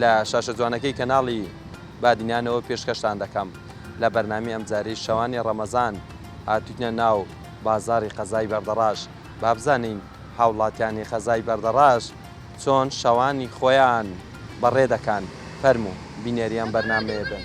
لە شاشە جوانەکەی کەناڵی بادینانەوە پێشکەشتان دەکەم لە بەرنامەی ئەمجارەی شەوانی ڕەمەزان هاتووینە ناو بازاڕی قەزای بەردەڕاش با بزانین هاوڵاتیانی قەزای بەردەڕاش چۆن شەوانی خۆیان بەڕێ دەکەن فەرموو بینەری ئەم بەرنامەیە بن.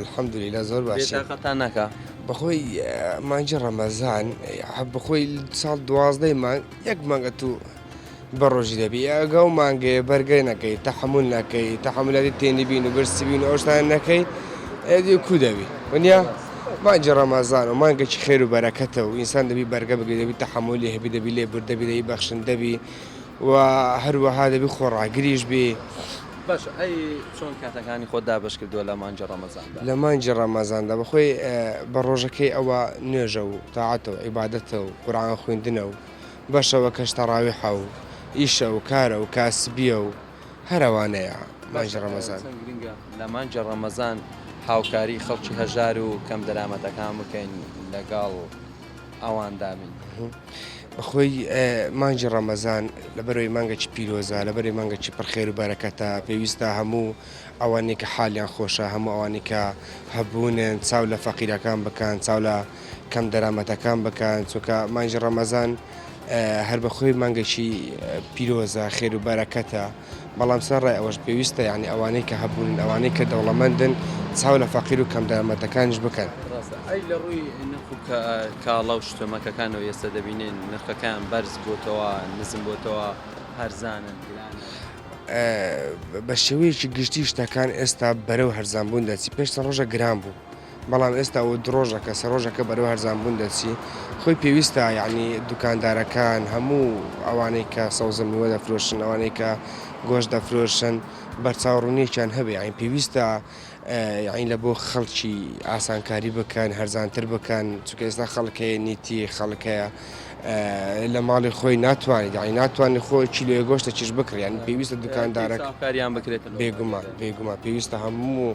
الحمدللە زۆر باشین. بێتاقەتتان نەکا. بەخۆی مانگی ڕەمەزان بەخۆی ساڵ دوازدەی مانگ یەک مانگە تو بە ڕۆژی دەبی ئەگە و مانگەیە بەرگەی نەکەی تەحمل نەکەی تەحملەری تێنی بین و برسی بین ئەوشتان نەکەی ئەدی کو دەبی ونیا مانگی ڕەمەزان و مانگەکی خێر و بەرەکەتە و ئینسان دەبی بەرگە بگری دەبی تەحملی هەبی دەبی لێ بردەبی دەبی بەخشندەبی و هەروەها دەبی خۆڕاگریش بی. باشە ئەی چۆن کاتەکانی خۆت دابەش کردووە لە مانگی ڕەمەزاندا؟ لە مانگی ڕەمەزاندا بەخۆی بە ڕۆژەکەی ئەوە نوێژە و تاعەتە و عیبادەتە و قورعان خویندنە و بە شەوەکەش تەڕاویحە و ئیشە و کارە و کاسبیە و هەر ئەوانەیە مانگی ڕەمەزان. باشە چەند گرنگە لە مانگی ڕەمەزان هاوکاری خەڵکی هەژار و کەم دەرامەتەکان بکەین لەگەڵ. ئەوان دابین بەخۆی مانجی ڕەمەزان لەبەرەوەی مانگەکی پیرۆزە لەبەری مانگەکی پرخێر و بەرەکەتە پێویستە هەموو ئەوانێک کە حالیان خۆشە هەموو ئەوانی کە هەبوونن چاو لە فەقیرەکان بکەن چاو لە کەم دەرامەتەکان بکەن چونکە مانجی ڕەمەزان هەر بەخۆی مانگەکی پیرۆزە خێر و بەرەکەتە. بەڵام سەرەڕای ئەوەش پێویستە یانی ئەوانەی کە هەبوونن، ئەوانەی کە دەوڵەمەندن چاو لە فەقیر و کەم دەرامەتەکانیش بکەن. ڕاستە ئەی لە ڕووی نرخ و کاڵا و شتۆمەکەکانەوە ئێستا دەبینین نرخەکەیان بەرز بۆتەوە، نزم بۆتەوە، هەرزانن، گرانن؟ بە شێوەیەکی گشتی شتەکان ئێستا بەرەو هەرزان بوون دەچی، پێش چەند ڕۆژێک گران بوو، بەڵام ئێستا و دڕۆژەکە سەڕۆژەکە بەرەو هەرزان بوون دەچی خۆی پێویستە یعنی دوکاندارەکان هەموو ئەوانەی کە سەوزە میوە دەفرۆشن ئەوانەی کە گۆش دەفرۆشن بەرچاوڕونیەکیان هەبێ ئاین پێویستە یعنی لە بۆ خەڵکی ئاسانکاری بکەن هەرزانتر بکەن چکە ئێستا خەڵکەیە نیتی خەڵکەیە لە ماڵی خۆی ناتوانێت یعنی ناتوانانی خۆ کیلوێ گۆشتە چش بکڕیان پێویستە دوکاندارەکە کاریان بکرێت بێگومان بێگومان پێویستە هەموو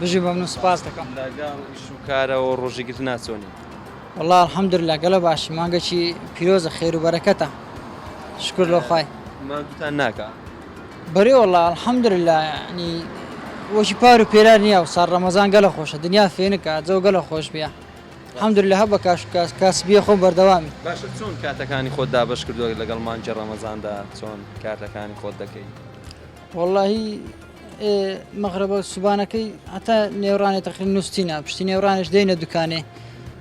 بژی مەمنون سوپاست دەکەم. لە گەڵ ئیش و کارەوە و ڕۆژی گرتنا چۆنی؟ وەڵا الحمدللە گەلە باشین مانگەکی پیرۆزە خێرو بەرەکەتە شکور لۆ خوای. ماندوتان ناکا؟ بەرێ وەڵا الحمدللە یانی وەکی پارو پێرار نیە ئەوساڵ ڕەمەزان گەلە خۆشە دنیا فێنکە جەو گەلە خۆش بیە الحمدللە هە بە کاش کاس کاسبیە خۆم بەردەوامی. باشە چۆن کاتەکانی خۆت دابەش کردوە لەگەڵ مانگی ڕەمەزاندا چۆن کاتەکانی خۆت دەکەی؟ وەڵاهی ئێ مەغربە و سوبانەکەی هەتا نێورانێ تەخین نووسینە پشتی نێورانش دێنە دوکانێ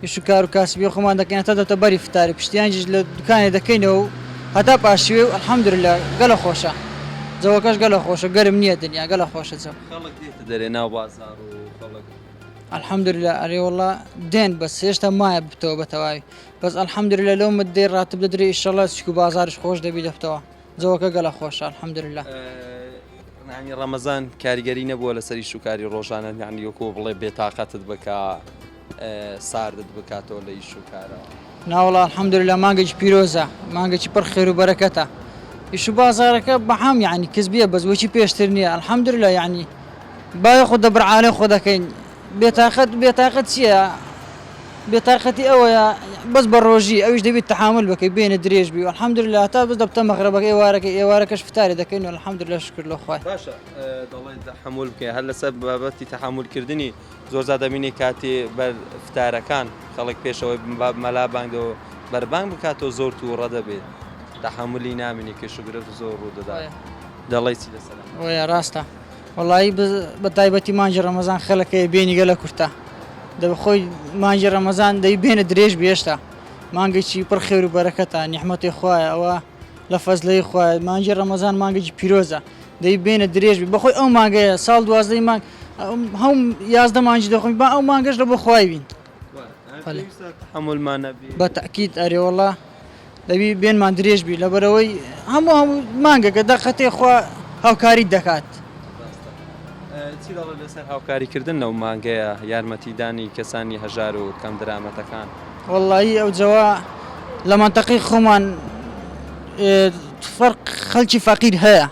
یش و کار و کاسبی خۆمان دەکەین هەتا دەتە بەری فتاری پشتیانجیش لە دوکانێ دەکەینەوە و هەتا پاشیوێ و الحەمدللە گەلە خۆشە جەوەکەش گەلە خۆشە گەرم نییە دنیا گەلە خۆشە جەو خەڵک دێتە دەرێ ناو بازاڕ و خەڵک الحەمدللە ئەرێ وەڵا دێن بەس هێشتا مایە بتەوە بە تەواوی بەس الحەمدللە لەو مدەی ڕاتب دەدرێ ئیشەڵا چک و بازاریش خۆش دەبی دەبتەوە جەوەکە گەلە خۆشە الحمدللە. یانی ڕەمەزان کاریگەری نەبووە لەسەر ئیش و کاری ڕۆژانەت یانی وەکو بڵێ بێتاقەتت بکا ساردت بکاتەوە لە ئیش و کارەوە؟ ناوەڵا الحمدللە مانگێکی پیرۆزە مانگێکی پڕ خێر و بەرەکەتە ئیش و بازارەکە بەعام یانی کز بیە بەس وەکی پێشتر نییە الحمدللە یانی بایەخ و دەبرعالێ خۆ دەکەین بێتاقەت بێتاقەت چیە بێتاقەتی ئەوەیە بەس بە ڕۆژی ئەوش دەبیت تەحامل بەکەی بێنە درێژ بی الحمدللە هەتا بس دەبتە مەغربەکە ئێوارەکە ئێوارەکەش فتاری دەکەین الحمدللە شکر لۆ خوای. باشە دەڵێی تەحەمول بکەی هەر لەسەر بابەتی تەحەمول کردنی زۆر جار دەبینی کاتی بەر فتارەکان خەڵک پێشەوەی مەلا بانگ دەو بەر بانگ بکاتەوە زۆر توڕە دەبێت تەحەمولی نامینی کێشوگرفت زۆر ڕوو دەدات دەڵێی چی لەسەر ئەم. وەیە ڕاستە. وەڵایی بە تایبەتی مانگی ڕەمەزان خەلک هەیە بینی گەلە کورتە دەبە خۆی مانگی ڕەمەزان دەی بێنە درێژ بێشتا مانگێکی پڕ خێر و بەرەکەتە نیحمەتی خوایە ئەوە لە فەزلەی خوایە مانگی ڕەمەزان مانگێکی پیرۆزە دەی بێنە درێژ بی بەخۆی ئەو مانگەیە ساڵ دوازدەی مانگ هەم یازدە مانگی دەخۆین با ئەو مانگەش لە بۆ خوای بین بە تەئکید ئەرێ وەڵا دەبی بێنمان درێژ بی لەبەرەوەی هەموو هەموو مانگەکە دەقەتێ خوا هاوکاریت دەکات. چی دەڵێ لەسەر هاوکاریکردن لەو مانگەیە یارمەتیدانی کەسانی هەژار و کەم درامەتەکان؟ وەڵایی ئەو جەوە لە مەنتەقەی خۆمان فەرق خەلکی فەقیر هەیە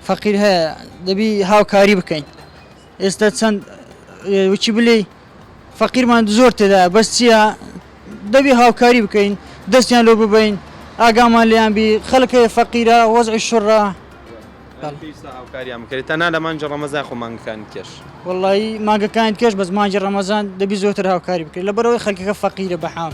فەقیر هەیە دەبی هاوکاری بکەین. ئێستا چەند وچی بلێی فەقیرمان زۆر تێدایە بەس چییە دەبی هاوکاری بکەین دەستیان لۆ ببین ئاگامان لیان بی خەلک هەیە فەقیرە وەزعی شڕە هاوکاریان بکەێت تا نا لە مانجی ڕەمەزای خۆ مانگەکانی کێش وڵی ماگەکانی کێش بەس مانجی ڕەمەزان دەبی زۆتر هاوکاری بکرێت لە بەرەوەی خەکەکە فەقیرە بەحام.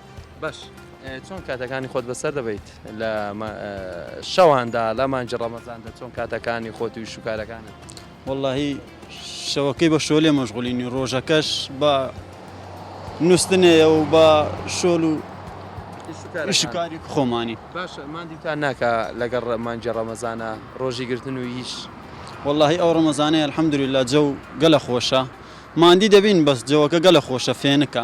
بەش چۆن کاتەکانی خۆت بەسەر دەبیت لە شەواندا لە مانجی ڕەمەزاندا چۆن کاتەکانی خۆت و شوکارەکانت واللهی شەوەکەی بە شۆلێ مەشغولینی ڕۆژەکەش بە نووسنەیە و بە شۆل و شکاری خۆمانی باش مادیتان ناکە لەگەڵ مانجی ڕەمەزانە ڕۆژی گرتن و هیچ واللهی ئەو ڕەمەزانەیە الحەمدوری لە جەو گەلە خۆشە مادی دەبین بەس جەوەکە گەلە خۆشە فێنکە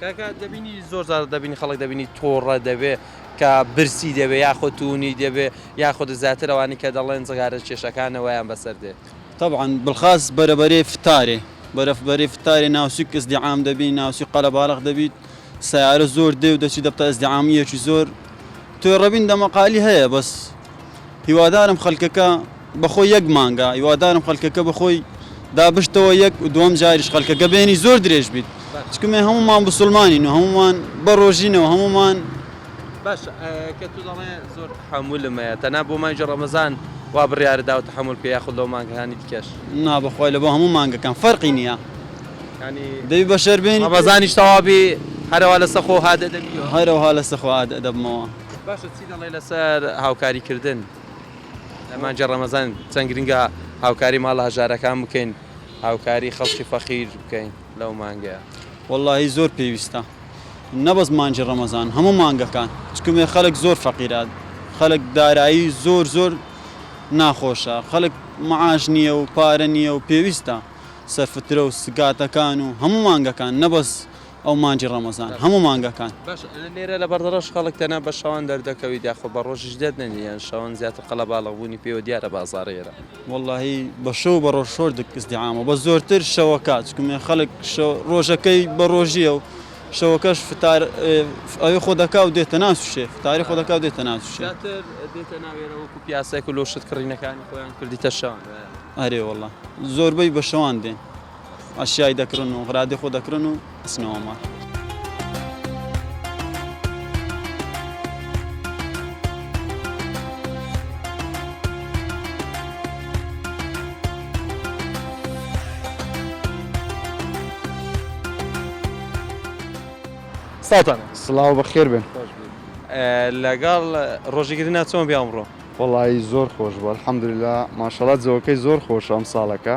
کاکە دەبینی زۆر جار دەبینی خەڵک دەبینی تۆڕە دەبێ کە برسی دەبێ یاخۆ تونی دەبێ یاخۆدە زیاتر ئەوانی کە دەڵێن جغارە کێشەکانەوەیان بەسەر دێت. تەبعەن بڵخاس بەرە بەرەی فتارێ بەرە بەرەی فتارێ ناوچک ئزدیعام دەبینی ناوچی قەرەباڵغ دەبیت سەیارە زۆر دێ و دەچی دەبتە ئزدیعامیەکی زۆر تۆێڕەبین دەمەقالی هەیە بەس هیوادارم خەلکەکە بەخۆی یەک مانگە هیوادارم خەلکەکە بەخۆی دابشتەوە یەک دووەم جاریش خەلکەکە بێنی زۆر درێژ بیت چکە مێ هەمومان بسلمانین و هەمومان بەڕۆژینەوە هەمومان باش کە تو دەڵێ زۆر تحملم هەیە تەنها بۆ مانگی ڕەمەزان وا بڕیارە داو تحمل بکە یاخود لەو مانگەکانی دیکەش نا بەخوای لە بۆ هەموو مانگەکان فەرقی نییە ینی دەبی بەشەر بێنی ڕەمەزانیش تەوابی هەرەوە لەسە خۆ هادە دەبیەوە هەرەوها لەسە خۆ هادە دەبمەوە. باشە چی دەڵێ لەسەر هاوکاری کردن. لە مانگی ڕەمەزان چەند گرنگە هاوکاری ماڵە هەژارەکان بکەین هاوکاری خەڵکی فەقیر بکەین لەو مانگەیە. وەڵاهی زۆر پێویستە نەبەز مانگی ڕەمەزان هەموو مانگەکان چکمێ خەلک زۆر فەقیرە خەلک دارایی زۆر زۆر ناخۆشە خەلک معاش نیە و پارە نیە و پێویستە سەرفترە و سگاتەکان و هەموو مانگەکان نەبەز ئەو مانگی ڕەمەزان هەموو مانگەکان. باشە لێرە لە بەردەڕەش خەڵک تەنها بە شەوان دەردەکەویت یاخۆ بە ڕۆژیش دەرنەنی یان شەوان زیاتر قەلەباڵغ بوونی پێوە دیارە بازاڕ ئێرە؟ وەڵاهی بە شەو و بە ڕۆژ شۆر ئیزدیعامە بەس زۆرتر شەوەکە چونکە مێ خەڵک شەو ڕۆژەکەی بە ڕۆژییە و شەوەکەش فتار ئەوێ خۆ دەکا و دێتە ناو سوشێ فتاری خۆ دەکا و دێتە ناو سوشێ. زیاتر دێتە ناو ئێرە وەکوو پیاسەک و لۆ شت کڕینەکانی خۆیان کردیتە شەوان؟ ئەرێ وەڵا زۆربەی بە شەوان دێن. ئەشیای دەکرن و غرادی خۆ دەکرن و ئەچنەوە ماڵ. سڵاوتان لێبێ. سڵاو و بەخێربێن. خۆش بن. لەگەڵ ڕۆژیکردنا چۆن بێ ئەمڕۆ؟ وەڵایی زۆر خۆش بوو ئەلحەمدولیلا ماشەڵا جەوەکەی زۆر خۆشە ئەمساڵەکە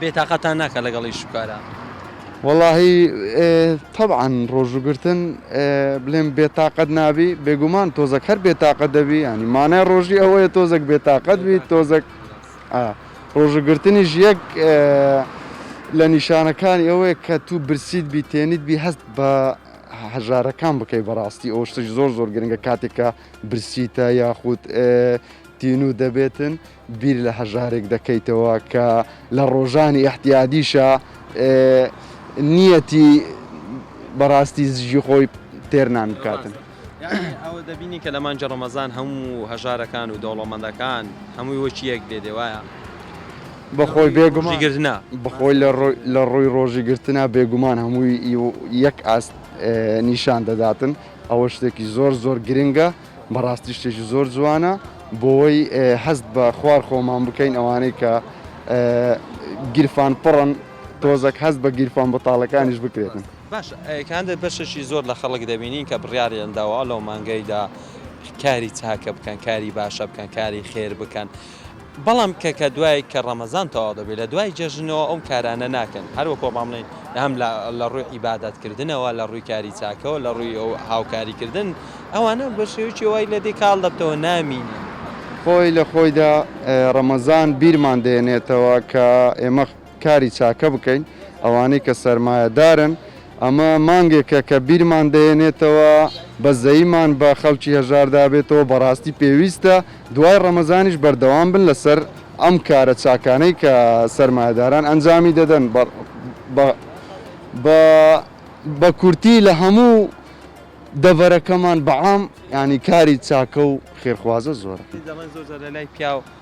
بێ تاقەتتان ناکات لەگەڵ ئیش و کارا. وەڵاهی تەبعەن ڕۆژوو گرتن بلێم بێ تاقەت نابی بێگومان تۆزەک هەر بێ تاقەت دەبی ینی مانای ڕۆژی ئەوەیە تۆزەک بێ تاقەت بی تۆزەک ڕۆژوو گرتنیش یەک لە نیشانەکانی ئەوەیە کە تو برسیت بی تێنیت بی هەست بە هەژارەکان بکەی بەڕاستی ئەو شتش زۆر زۆر گرنگە کاتێکە برسیتە یاخود تینوو دەبێتن بیر لە هەژارێک دەکەیتەوە کە لە ڕۆژانی ئیحتیادیشا نیەتی بەڕاستی زیژی خۆی تێر نان بکاتن. ئەوە دەبینی کە لە مانگی ڕەمەزان هەموو هەژارەکان و دەوڵەمەندەکان هەمووی وەکی یەک دێ دێوایە بەخۆی بێگومان گرتنا بخۆی لە ڕووی ڕۆژی گرتنا بێگومان هەمووی یەک ئاست نیشان دەداتن ئەوە شتێکی زۆر زۆر گرنگە. بەڕاستی شتێکی زۆر جوانە بۆوەی هەست بە خوار خۆمان بکەین ئەوانەی کە گیرفان پڕن تۆزەک هەست بە گیرفان بەتاڵەکانیش بکرێتن. باش کاندید بەشێکی زۆر لە خەڵک دەبینین کە بڕیاریان داوە لەو مانگەیدا کاری چاکە بکەن کاری باشە بکەن کاری خێر بکەن، بەڵام کە کە دوای کە ڕەمەزان تەواو دەبێت لە دوای جەژنەوە ئەو کارانە ناکەن هەر وەکۆ با بڵێن هەم لە ڕووی عیبادەت کردنەوە لە ڕووی کاری چاکەوە لە ڕووی ئەو هاوکاری کردن ئەوانە بە شێوەیەکی وای لە دی کاڵ دەبتەوە نامینێن. خۆی لە خۆیدا ڕەمەزان بیرمان دەهێنێتەوە کە ئێمە کاری چاکە بکەین ئەوانەی کە سەرمایەدارن ئەمە مانگێکە کە بیرمان دەهێنێتەوە بەزەیمان بە خەڵکی هەژاردا بێتەوە بەڕاستی پێویستە دوای ڕەمەزانیش بەردەوام بن لەسەر ئەم کارە چاکانەی کە سەرمایەداران ئەنجامی دەدەن بە بە بە بە کورتی لە هەموو دەڤەرەکەمان بەعام یانی کاری چاکە و خێرخوازە زۆرە.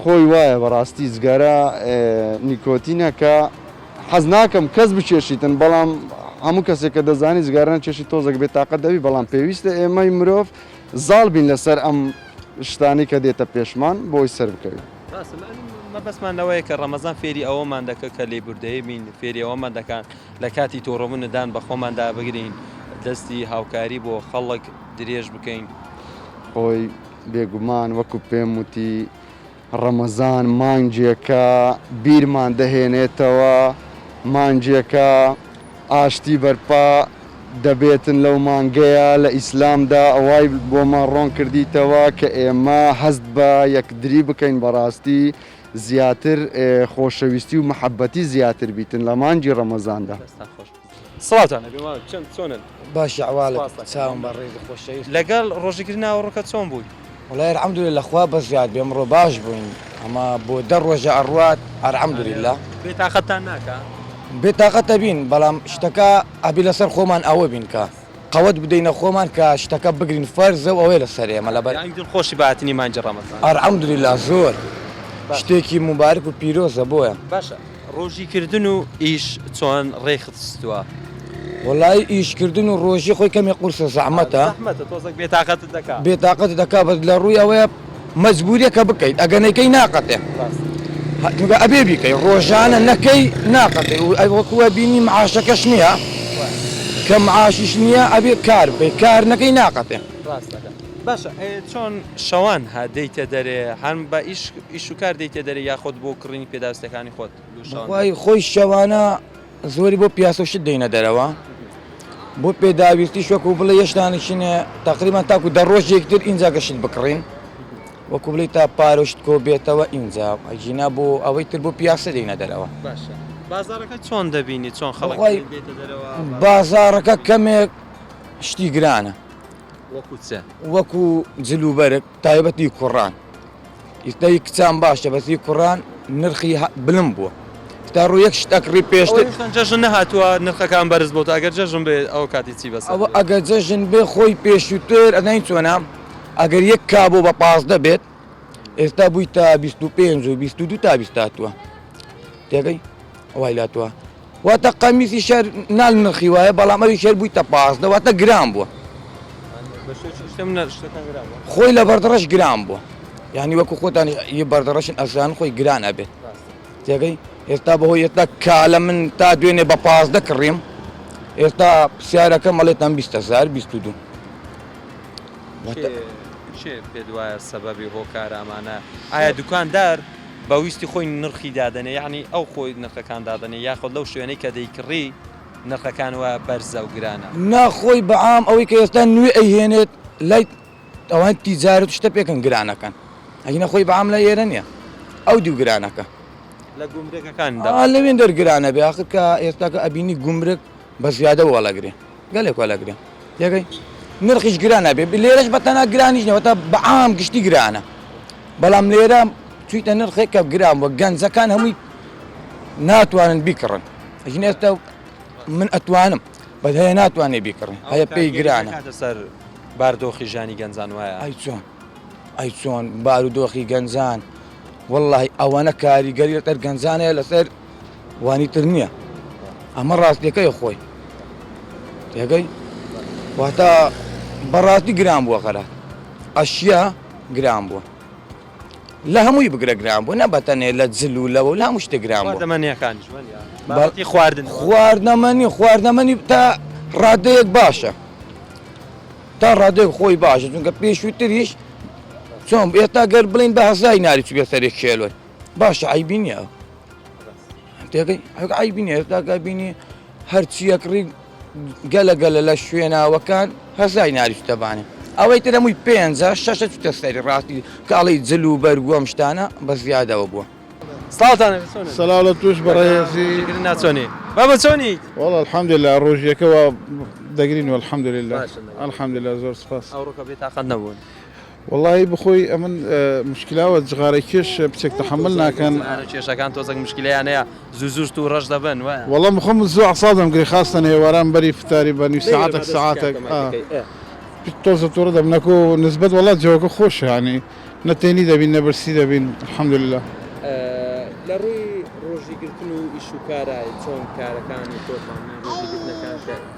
خۆی وایە بەڕاستی جگەرە نیکۆتینە کە حەز ناکەم کەس بچێشیتن بەڵام هەموو کەسێک کە دەزانی جگەرە نەچێشی تۆزەک بێ تاقەت دەبی بەڵام پێویستە ئێمەی مرۆڤ زاڵ بین لەسەر ئەم شتانەی کە دێتە پێشمان بۆی سەر بکەوین. ڕاستە مەبەستمان لەوەیە کە ڕەمەزان فێری ئەوەمان دەکا کە لێبوردەیی بین فێری ئەوەمان دەکا لە کاتی توڕەبوون دان بە خۆماندا بگرین دەستی هاوکاری بۆ خەڵک درێژ بکەین. خۆی بێگومان وەکو پێم وتی ڕەمەزان مانگێکە بیرمان دەهێنێتەوە، مانگێکە ئاشتی بەرپا دەبێتن لەو مانگەیە لە ئیسلامدا وای بۆمان ڕۆن کردیتەوە کە ئێمە هەست بە یەکدری بکەین بەڕاستی زیاتر خۆشەویستی و محەبەتی زیاتر بیتن لە مانگی ڕەمەزاندا. سڵاوتان ئەبێ مامە چەن چۆنن باشی ئەحوالت چاوم بە ڕێزو خۆشەویست لەگەڵ ڕۆژەگری ناوەڕۆکە چۆن بووی؟ وەڵای الحمدللە خوا بەزیاد بێ ئەمڕۆ باش بووین ئەمە بۆ دە ڕۆژە ئەڕوات الحمدللە. بێتاقەتتان ناکا؟ بێتاقەت ئەبین بەڵام شتەکە ئەبێ لەسەر خۆمان ئەوە بین کە قەوەت بدەینە خۆمان کە شتەکە بگرین فەرزە و ئەوەیە لەسەر ئێمە لەبەر یانی دڵ خۆشی بە هاتنی مانگی ڕەمەزان؟ الحمدللە زۆر شتێکی موبارک و پیرۆزە بۆیە. باشە. ڕۆژی کردن و ئیش چۆن ڕێکخستووە؟ وەڵایی ئیش کردن و ڕۆژی خۆی کەمێ قورسە زەحمەتە زەحمەتە تۆزەک بێتاقەتت دەکا بێتاقەتت دەکا بەس لە ڕووی ئەوەیە مەجبوریە کە بکەیت ئەگە نەیکەی ناقەتێ چونکە ئەبێ بیکەی ڕۆژانە نەکەی ناقەتێ و ئەی وەکو بینی معاشەکەش نییە کە معاشیش نییە ئەبێ کار بکەی کار نەکەی ناقەتێ. باشە ئێ چۆن شەوان هە دێیتە دەرێ هەم بە ئیش ئیش و کار دێیتە دەرێ یاخۆد بۆ کڕینی پێداوستەکانی خۆت لۆ شەوان دێ؟ بەخوای خۆی شەوانە زۆری بۆ پیاسە و شت دێینە دەرەوە بۆ پێداویستیش وەکوو بڵێ یەشتان نیشینە تەقریبان تاکوو دە ڕۆژ یەکتر ئینجا کە شت بکڕین وەکوو بڵێی تا پارە و شت کۆ بێتەوە ئینجا ئەگینا بۆ ئەوەی تر بۆ پیاسە دێینە دەرەوە. باشە بازاڕەکە چۆن دەبینی چۆن خەڵک بەخوای دێیتە دەرەوە بازاڕەکە؟ بازاڕەکە کەمێک شتی گرانە وەکو چ؟ وەکو جل و بەرگ تایبەت هی کوڕان ئیستا هی کچان باشە بەس هی کوڕان نرخی بلند بووە تا ڕوو یەک شت ئەکڕی پێشتر ئەوەی جەژن نەهاتووە نرخەکان بەرز بۆتە ئەگەر جەژن بێ ئەو کاتی چی بەسەر ئەوە ئەگەر جەژن بێ خۆی پێشووتر ئەزانی چۆنە ئەگەر یەک کابۆ بە پازدە بێت ئێستا بووی تا 25 و 22 تا بیست هاتووە تێگەی وای لاتوە واتە قەمیسی شەر نال نرخی وایە بەڵام ئەوی شەر بوویتە پازدە واتە گران بووە خۆی لە بەردڕەش گران بووە یعنی وەکو خۆتان یە بەردڕەشن ئەزان خۆی گران ئەبێت تێگەی ئێستا بەهۆی ئێستا کالە من تا دوێنێ بە پازدە کڕیم ئێستا پرسیارەکە مەڵێتان بیستهزار بیست دو پێ وایە سەبەبی هۆکارامانە ئایا دوکاندار بە ویستی خۆی نرخی دادەنێ یەعنی ئەو خۆی نرخەکان دادەنێ یاخود لەو شوێنەی کە دەیکڕی نرخەکان وا بەرزە و گرانە؟ نا خۆی بە عام ئەوەی کە ئێستا نوێ ئەیهێنێت لای ئەوانی تیجارەت و شتە پێکەن گرانەکەن ئەگینا خۆی بە عام لای ئێرە نیە ئەو دیو گرانەکە لە گومرگەکان دەبات. ئا لەوێن دەرگرانەبێ ئاخر کە ئێستاکە ئەبینی گومرگ بە زیادە وەڵەگرێ گەلێک وەلا گران تێگەی نرخیش گران نابێ لێرەش بە تەنها گرانیش نیە وەتا بە عام گشتی گرانە بەڵام لێرە چیتە نرخێک کە گران وە گەنجەکان هەمووی ناتوانن بیکڕن ژن ئێستا من ئەتوانم بەس هەیە ناتوانێ بیکڕن هەیە پێی گرانە کاتە سەر باردۆخی ژانی گەنجان وایە ئای چۆن ئای چۆن بارودۆخی گەنجان واللهی ئەوەنە کاریگەری لەسەر گەنجانەیە لەسەر وانی تر نیە ئەمە ڕاستیەکەی خۆی تێگەی واتە بەڕاستی گران بووە خەرە ئەشیا گران بووە لە هەمووی بگرە گران بوو نە بەتەنێ لە جل و لەوە لا مشتە گران بوو دەمەنیەکان بەڵی خواردن خواردنەمەنی خواردنەمەنی تا ڕادەیەک باشە تا ڕادێک خۆی باشە چونکە پێشووتریش چۆن ئێستا گەر بڵین بە هەزای ناری چگە سەرێک کێلۆن باشە عیبی نییە عیبی نیە ئێستاگە بینی هەرچیەک ڕی گەلە گەلە لە شوێناوەکان هەزای ناریشتەبانێ ئەوەی تر هەمووی پێنجە شەشە چتە سەری ڕاستی کاڵی جل و بەرگووەم شتانە بە زیادەوە بووە سەلااو لە توش بەڕێزی ناچۆنی بە بەچۆنی وڵ الحمد لە ڕۆژیەکەەوە دەگرین و الحمد لله الحمد لە زۆر سپاس ئەوڕۆکە بێ تاقەت نەبوون. وەڵاهی بخۆی ئەمن مشکلاوە جغارەی کێش بچێک تەحەمل ناکەن. جغارە کێشەکان تۆزەک مشکلیان هەیە زوو زوو توو ڕەش دەبن وایە. وەڵا من خۆم زوو عەساب دەمگرێ خاستەن هێواران بەری فتاری بە نیو سەعاتەک سەعاتەک تۆزە توڕە دەبم نەکو نسبەت وەڵا جەوەکە خۆشە یانی نە تێنی دەبین نە برسی دەبین الحمدللە. لە ڕووی ڕۆژی گرتن و ئیش و کارا چۆن کارەکانی تۆزانە ڕۆژی گرتنەکان کە.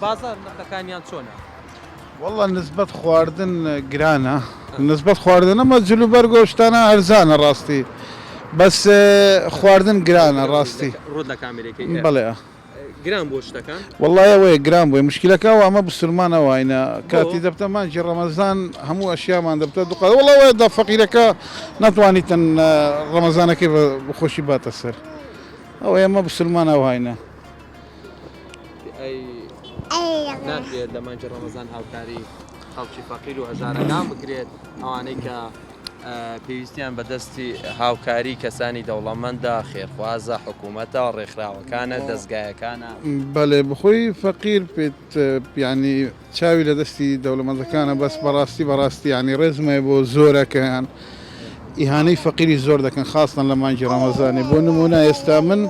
بازار نرخەکانیان چۆنە؟ وەڵا نسبەت خواردن گرانە نسبەت خواردن ئەمە جل و بەرگ و شتانە هەرزانە ڕاستی بەس خواردن گرانە ڕاستی ڕوت لە کامێرەکەی ئێ. بەڵێ گران بووە شتەکان؟ وەڵا ئەوەیە گران بووە مشکلەکە ئەوە ئەمە بسورمان ئەواینە کاتی دەبتە مانجی ڕەمەزان هەموو ئەشیامان دەبتە دوقات وەڵا وایە دا فەقیرەکە نەتوانیتن ڕەمەزانەکەی بە خۆشی باتە سەر ئەوەیە ئەمە بسورمان ئەوهاینە. ناکرێت لە مانگی ڕەمەزان هاوکاری خەڵکی فەقیر و هەژارەکان بکرێت ئەوانەی کە پێویستیان بەدەستی هاوکاری کەسانی دەوڵەمەندە خێرخوازە حکوومەتە ڕێکخراوەکانە دەستگایەکانە بەێ بخۆی فەقیر پێت پیانی چاوی لە دەستی دەوڵەمەندەکانە بەس بەڕاستی بەڕاستیانی ڕێزمای بۆ زۆرەکەیان ئیهانەی فەقیری زۆر دەکەن خاستن لە مانگی ڕەمەزانانی بۆ نمونە ئێستا من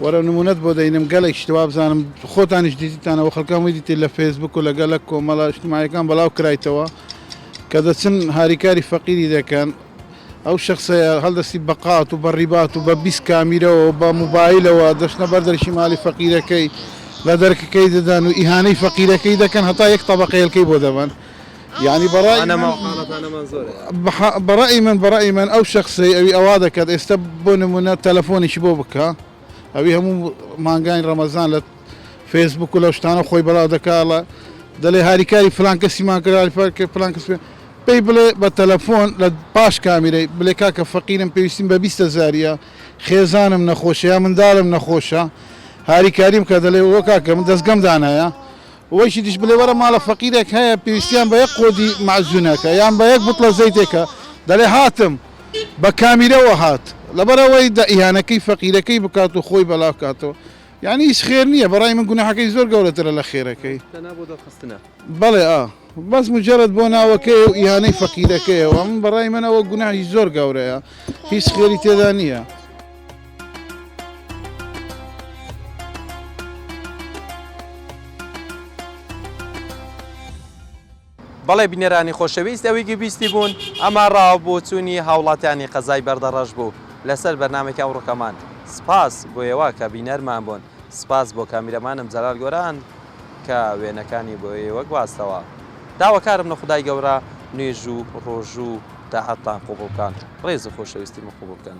وەرە نمونەت بۆ دەینم گەلەک شت وابزانم خۆتانیش دیتیتانەوە خەلکان وەی دیتی لە فەیسبوک و لە گەلەک کۆمەڵە ئیشتمایەکان بەڵاو کرایتەوە کە دەچن هاریکاری فەقیری دەکەن ئەو شەخسەیە هەڵدەستی بە قات و بە ڕیبات و بە بیست کامیرەوە و بە موبایلەوە دەچنە بەر دەرکی ماڵی فەقیرەکەی لە دەرکەکەی دەدەن و ئیهانەی فەقیرەکەی دەکەن هەتا یەک تەبەقە هێلکەی بۆ دەبەن یانی بەڕای من بەڕای من بەڕای من ئەو شخصی ئەوی ئەوا دەکات ئێستا بۆ نمونە تەلەفۆنیشی بۆ بکە ئەوی هەموو مانگانی ڕەمەزان لە فێسبوک و لە شتانە خۆی بەڵاو دەکڵە دەلێ هاریکاری فلانکەسیمان کراری فەرکە فلانکەس پێی بڵێ بە تەلەفۆن لە پاش کامیرەی بلێ کاکە فەقیرم پێویستیم بە بیستە زاریە خێزانم نەخۆشە یا منداڵم نەخۆشە هاریکاریم کە دەلێ وە کاکە من دەستگەم دانایە وەکی دیش بلێ وەرە ماڵە فەقیرێک هەیە پێویستیان بە یەک قۆدی مەعجونەکە یان بە یەک بوتڵە زەیتێکە دەلێ هاتم بە کامیرەوە هات لەبەرئەوەی دە ئیهانەکەی فەقیرەکەی بکات و خۆی بەلا بکاتەوە یانی هیچ خێر نیە بەڕای من گوناحەکەی زۆر گەورەترە لە خێرەکەی تەنها بۆ دەرخستنە. بەڵێ ئا بەس مجەرەد بۆ ناوەکەیە و ئیهانەی فەقیرەکەیە وە من بەڕای من ئەوە گوناحی زۆر گەورەیە هیچ خێری تێدا نیە. بەڵێ بینەرانی خۆشەویست ئەوەی گوێ بیستی بوون ئەمە ڕا و بۆچوونی هاوڵاتیانی قەزای بەردەڕەش بوو لەسەر بەرنامەی ئەوڕۆکەمان سپاس بۆ ئێوە کە بینەرمان بوون سپاس بۆ کامیرەمانم جەلال گۆران کە وێنەکانی بۆ ئێوە گواستەوە داواکارم لە خودای گەورە نوێژ و ڕۆژوو و تاعەتتان قووبڵ بکات ڕێز و خۆشەویستیمە قووبڵ بکەن